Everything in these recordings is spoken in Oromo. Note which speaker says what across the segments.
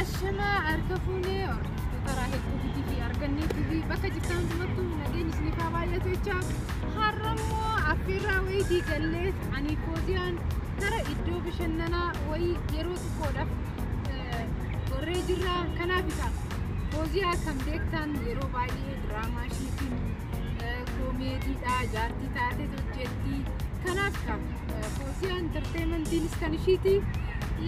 Speaker 1: Ashamaa harka fuunee hordoftoota Raahel Tuubiitii fi Argannee TV bakka jirtan hundumattuu nageenyi isiniif haa baay'atu jecha har'a immoo affeerraa wayii diigallee ani kooziyaan gara iddoo bashannanaa wayii yeroo xiqqoodhaaf eh, gorree jirra kanaaf isa kooziyaa kan beektan yeroo baay'ee diraamaa ishiitiin koomeediidha jaartii taatee hojjetti kanaaf ka foosiyaa intarteemantiinis kan ishiiti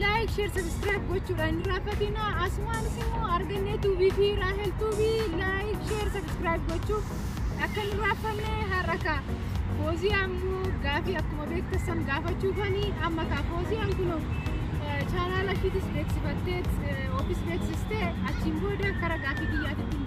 Speaker 1: laayik sheer sabiskiraayib gochuudhaan hin raaffatina asumaanis immoo argannee tuubii fi raahel tuubii laayik sheer sabiskiraayib gochuu akka hin raaffanne har'a ka fooziyaa immoo gaafii akkuma beektassan gaafachuufani amma ka fooziyaan kunoo chaanaala ishiitis beeksifattee ofiis beeksistee achiin booda kara gaafii biyyaatitti hin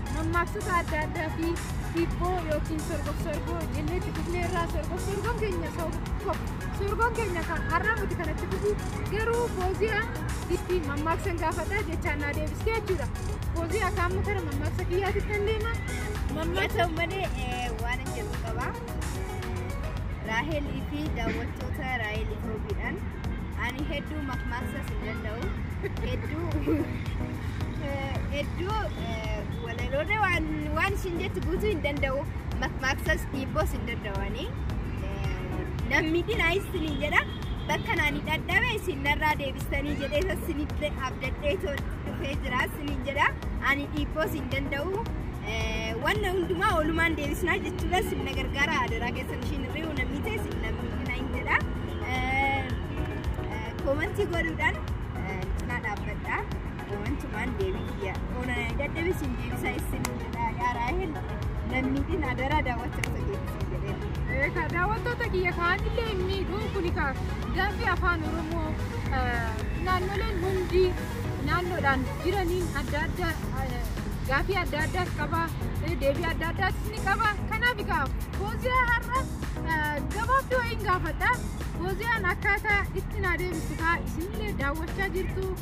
Speaker 1: mammaaksota adda addaa fi hiibboo yookiin sorgof sorgoo jennee itti fufnee irraa sorgof sorgoon keenya sorgoon keenya kan har'aa miti kan itti fufu garuu fooziya itti mammaaksan gaafadha jechaan naa deebistee jechuudha fooziya akka amma kana mammaaksa kiyyaatti kan deema mammaaksa
Speaker 2: malee waan hin jedhu qaba raahelii fi daawwattoota raahel itoobiidhaan ani hedduu mammaaksa hin danda'u hedduu hedduu walaloota waan waan isin jettu guutuu hin danda'u makmaaksas dhiibboos hin danda'ani namni dinaa isinii jedha bakka naani dhadhabe isin narraa deebistanii jedhee isa isinitti abdadhee too dhufee jira isiniin jedha ani dhiibboos hin danda'u wanna hundumaa oolumaan deebisnaa jechuudha isin na gargaara adaraa keessan ishiin hirri'u namni ta'e isin namni dinaa hin jedha koomantii godhuudhaan cinaa dhaabbadha. Waantumaan deebii kiyya. Oona dadhabee siin deebisaa isin jedhaa yaa Raahel lammiitiin adaraa daawwachaa osoo deebisin jedhee. Ka daawwattoota
Speaker 1: kiyya kaanillee hin miidhuu kuni ka gaaffii afaan Oromoo eh, naannoleen hundi naannoodhaan jiraniin adda adda eh, gaaffii adda addaas qaba eh, deebii adda addaas ni qaba kanaaf egaa fooziyaa har'a eh, gabaabduu wayiin gaafadha fooziyaan akkaataa itti naa deebistu kaa isinillee daawwachaa jirtu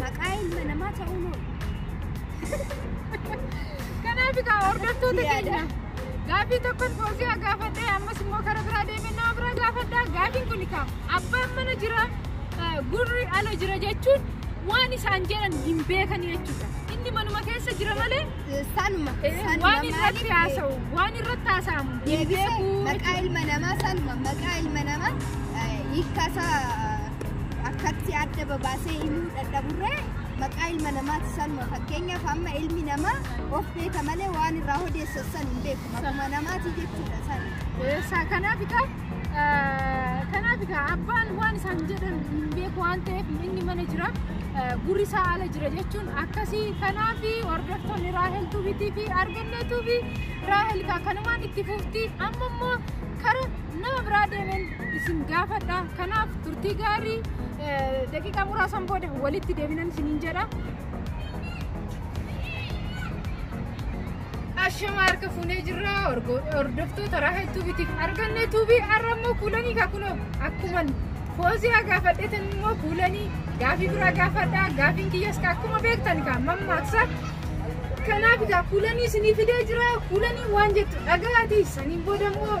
Speaker 1: maqaa ilma
Speaker 2: namaa ta'uun oolu.
Speaker 1: Kanaaf egaa hordoftoota keenya gaaffii tokkon fooziyaa gaafadhee ammas immoo karaa biraa deemee nama biraa gaafadhaa gaaffiin kun egaa abbaan mana jira eh, gurri ala jira jechuun waan isaan jedhan hin beekan jechuudha. Inni manuma keessa jira malee Sanuma. eh,
Speaker 2: sanuma waan irratti
Speaker 1: maaliif- haasa'u waan irratti haasa'amu hin Deebisee beeku maqaa jechuudha. ilma namaa
Speaker 2: sanuma maqaa ilma namaa eh, hiikkasaa akkatti adda babaasee himuu dadhaburree maqaa ilma namaatti sanuma fakkeenyaaf amma ilmi namaa of beeka malee waan irraa odeessan san hin beeku maquma namaati jechuudha san. Eessa kanaaf egaa
Speaker 1: kanaaf egaa abbaan waan isaan jedhan hin beeku waan ta'eef inni mana jira gurri isaa ala jira jechuun akkasii kanaaf hordoftoonni raahel tuubiitii fi arganneetuu fi raahel kanumaan itti fufti amma immoo kara nama biraa deemeen isin gaafadha kanaaf turtii gaarii daqiiqaa muraasan booda walitti deebinan isiniin jedha. Ashama harka fuunee jirra hordoftoota raha tuubitiif arganne tuubii har'a immoo kuulanii kakunoo akkuma foozii gaafadheetan immoo kuulanii gaafii biraa gaafadha gaafiin kiyyas akkuma beektan kaa mammaaksa kanaaf gaa kuulanii isinii fidee jira kuulanii waan jettu dhaga'aati saniin booda immoo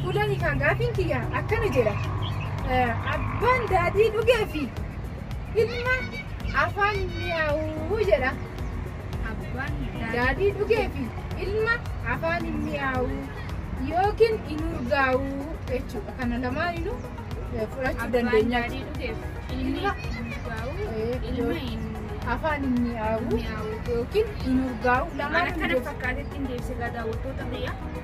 Speaker 1: Fuula hiikaa gaafiin kiyya akkana jedha. Abbaan daadhii dhugee fi ilma afaan mi'aawuu jedha. Abbaan daadhii dhugee fi ilma afaan hin mi'aawu yookiin hin urgaawu jechuudha. Kana lamaaninu fudhachuu dandeenya. Daadhii dhugeef ilmi Ilma- urgaa'u Eh, ilma hin Afaan hin mi'aawu mi'aawu. yookiin hin urgaawu Waan lamaan akkana fakkaatee ittiin
Speaker 3: deebisee daawwattoota biyya.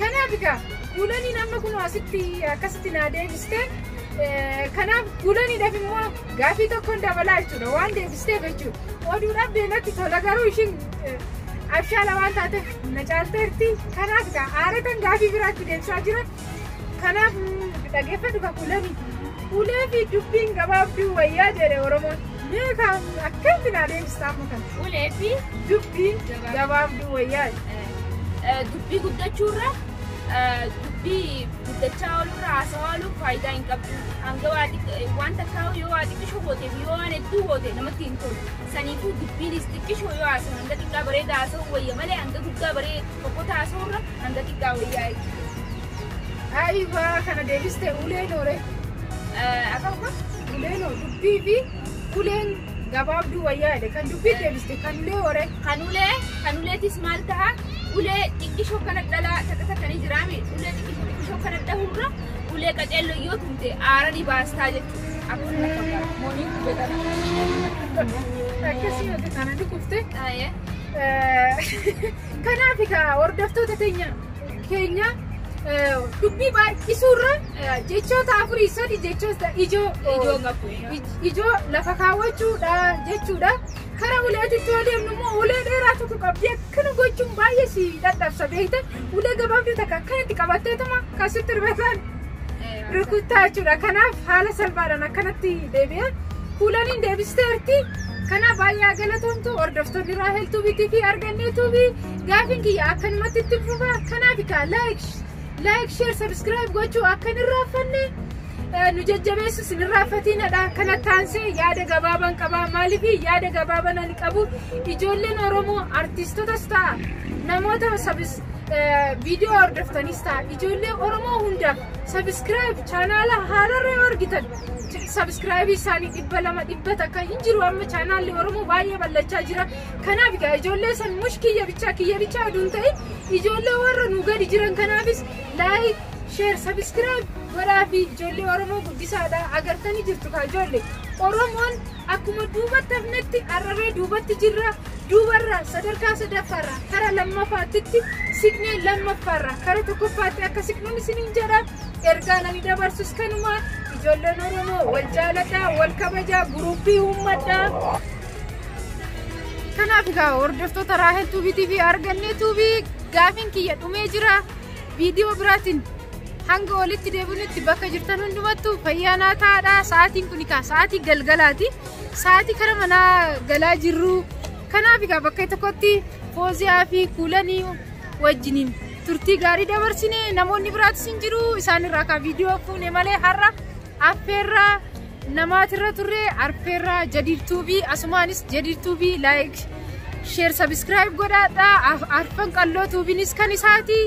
Speaker 1: Kanaaf egaa guulaniin amma kunoo asitti akkasitti naa deebiste. Kanaaf guulaniidhaaf immoo gaafii tokkoon dabalaa jechuudha waan deebisteef jechuudha. Oduudhaaf deematti tola garuu ishiin abshaala waan taateef na caalteerti. Kanaaf egaa aaratan gaafii biraatti deebisaa jira. Kanaaf dhaggeeffadhu ka kuulanii. Kuulee fi dubbiin gabaabduu wayyaa jedhe Oromoon. Mee kan akkamitti naa deebistaa amma kana? Ulee fi
Speaker 3: Dubbiin
Speaker 1: gabaabduu wayyaa jedhe. Dubbii
Speaker 3: guddachuurra dubbii guddachaa oolurra haasawaa ooluun faayidaa hin qabdu. Hanga waa xiqqoo waan takkaa yoo waa xiqqishoo gooteef yoo waan hedduu goote namatti hin tolu. Saniifuu dubbiinis xiqqishoo yoo haasawu hanga xiqqaa bareeda haasawuu wayya malee hanga guddaa baree fokkota haasawurra hanga xiqqaa wayyaa jechuudha.
Speaker 1: Ayiwa kana deebiste ulee noore.
Speaker 3: Akkam kun Ulee noo
Speaker 1: dubbii fi uleen gabaabduu wayyaa jedhe kan dubbii deebiste kan ulee waree kan ulee kan
Speaker 3: uleetis maal taha ulee xiqqishoo kana dhalaa takka takka ni jiraame ulee xiqqishoo xiqqishoo kana dhahurra ulee qaceelloo yoo tumte aara ni baastaa jechuudha akkuma na fakkaata mooniin kubetan akkasii
Speaker 1: mata kana ni kufte taa'ee kanaaf egaa hordoftoota teenya keenya eh, dubbii baay'isuurra Jechoota afurii sadi jechoota ijoo Ijoo qabu. ij- ijoo lafa kaawwachuudha jechuudha. Kara uleetitti yoo deemnu immoo ulee dheeraa tokko qabdi akkana gochuun baay'ee si dadhabsa beekta. Ulee gabaabduu takka akkanatti qabatteetuma kan sitti rifatan rukuttaa jechuudha. Kanaaf haala salphaadhaan akkanatti deebi'a. Kuulaniin deebisteerti. Kanaaf baay'ee galatoomtu hordoftoonni Raahel Tuubii TV argannee Tuubii gaafiin kiyya akkanumatti itti fufa. Kanaaf kaa like Like, share, subscribe gochuu akka hin irraanfanne eh, nu jajjabeessu sin irraanfatiinadha. Kana taansee yaada gabaabaan qabaa. Maaliif yaada gabaabaan ani qabu ijoolleen Oromoo artiistotas ta'a namoota sabis eh, viidiyoo hordoftanis ta'a ijoollee Oromoo hundaaf subscribe chaanaala haararra yoo argitan sabskraayibii isaanii dhibba lama dhibba takka hin jiru amma chaanaalli Oromoo baay'ee ballachaa jira. Kanaaf egaa ijoollee san mush kiyya bichaa kiyya bichaa oduu hin ta'in Ijoollee warra nu gadi jiran kanaafis like share subscribe godhaafi ijoollee oromoo guddisaadha agartanii jirtu kaa ijoollee oromoon akkuma duubatti hafnetti arraree duubatti jirra duubarraa sadarkaa sadaffaarraa kara lammaffaattitti siqnee lammaffaarraa kara tokkoffaatti akka siqnuun isiniin jedha ergaa nani dabarsus kanuma ijoolleen oromoo wal jaaladhaa wal kabajaa guruuppii uummadhaa Kanaaf egaa hordoftoota Raahel Tuubii TV argannee Tuubii gaafiin kiyya dhumee jira viidiyoo biraatiin hanga olitti deebinutti bakka jirtan hundumattu fayyaa naa ta'aadha sa'aatiin kun egaa sa'aatii galgalaati sa'aatii kara manaa galaa jirru kanaaf egaa bakka tokkotti fooziyaa fi kuulanii wajjiniin turtii gaarii dabarsine namoonni biraatis hin jiru isaanirraa kan viidiyoo fuune malee har'a Affeerraa namaatirra turre arfeerraa jadiirtuu fi asumaanis jadiirtuu fi laayik sheer sabiskiraayib godhaadhaa arfan qalloo tuubinis kan isaati.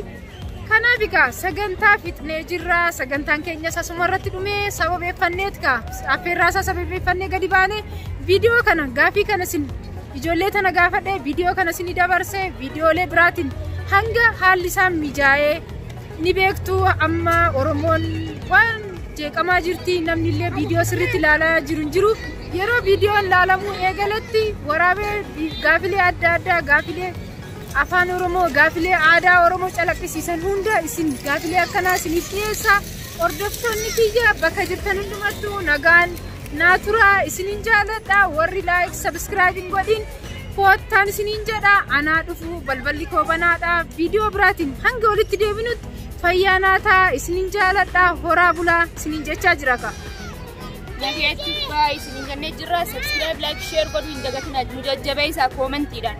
Speaker 1: Kanaaf egaa sagantaa fixnee jirra sagantaan keenyas asuma irratti dhumee sababeeffanneet kaa affeerraa isaa sababeeffannee gadi baane viidiyoo kana gaafii kana sin ijoollee tana gaafadhee viidiyoo kana sin dabarse viidiyoolee biraatiin hanga haalli isaa mijaa'ee. Ni beektu amma Oromoon waan jeeqamaa jirti namni illee viidiyoo sirriitti ilaalaa jiru hin jiru. Yeroo viidiyoon ilaalamuu eegaletti waraabee gaafilee adda addaa gaafilee afaan Oromoo gaafilee aadaa Oromoo calaqqisiisan hunda isin gaafilee akkanaa isiniif dhiyeessa. Hordoftoonni kiyya bakka jirtan hundumattuu nagaan naa turaa isinin jaaladha warri laayik sabiskiraayibiin godhin. koottaan isiniin jedha anaa dhufu balballi koo banaadha viidiyoo biraatiin hanga walitti deebinutti fayyaa naa ta'a isiniin jaaladha horaa bulaa isiniin jechaa jira ka.
Speaker 3: Nageetti faa isiniin jennee jirra. Subscribe, like, share godhuu hin dagatinaa. Nu jajjabeessaa koomentiidhaan.